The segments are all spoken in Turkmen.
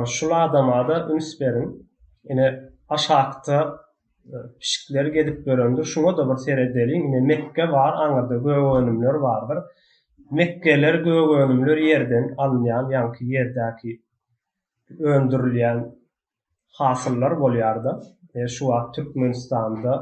Şul adamada üns beriň. Ine aşakda pişikler gezip ýörendir. Şuňa-da bir seredeliň. Ine Mekge bar, aňyrda gögönümler bardyr. Mekgeler, gögönümler ýerden alynýan, ýaňky ýerdäki öndürilýän hasyllar bolýarda e şu wagt Türkmenistanda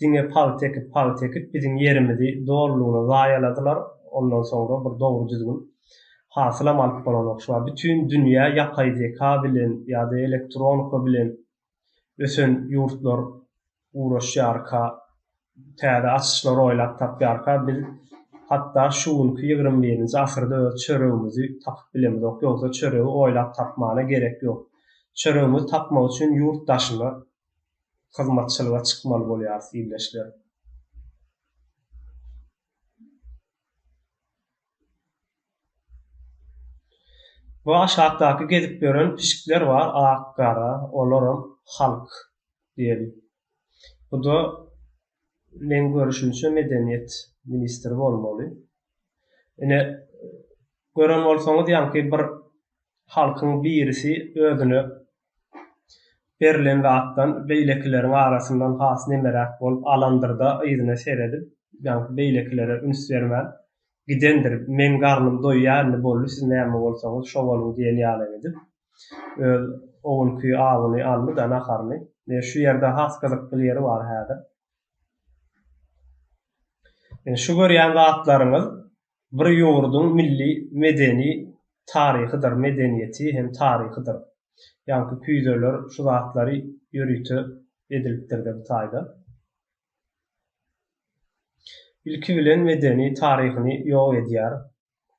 diňe paýt ekip paýt ekip biziň ýerimizi dolulygyna zaýaladylar ondan soňra bir dogry düzgün hasylam alyp bolanok şu wagt bütin dünýä ýapaý zeka bilen ýa-da elektronika bilen ösen ýurtlar ugraşýarka, täze açyşlar oýlap tapýarka, biz hatda şu günki ýigrimi birinji asyrda öz çöregimizi tapyp bilemizok, ýogsa çöregi oýlap tapmana gerek ýok. Çöregimizi tapmak üçin ýurt daşyna hyzmatçylyga çykmaly bolýarys, ildeşler. Bu aşakdaky gezip ýören pişikler bar, ak-gara, olaram halk diýeli. Bu-da meň görüşimçe medeniýet ministri bolmaly. Ine, gören bolsaňyz, ýaňky bir halkyň birisi özüne Berlen zatdan beýlekileriň arasyndan has nemeräk bolup alandyrda yzyna seredip, ýaňky beýlekilere üns bermän, gidendir, meň garnym doýýar indi boldy siz näme bolsaňyz şo boluň diýen ýalam edip, öz o günki awuny aldy-da naharyny. Ine şu ýerde has gyzykly ýeri bar häzir. Ine şu görýän zatlaryňyz bir ýurduň milli medeni taryhydyr, medeniýeti hem taryhydyr. Ýaňky küýzeler şu zatlary ýörite edilipdir-de bu taýda. Ilki bilen medeni taryhyny ýok edýär.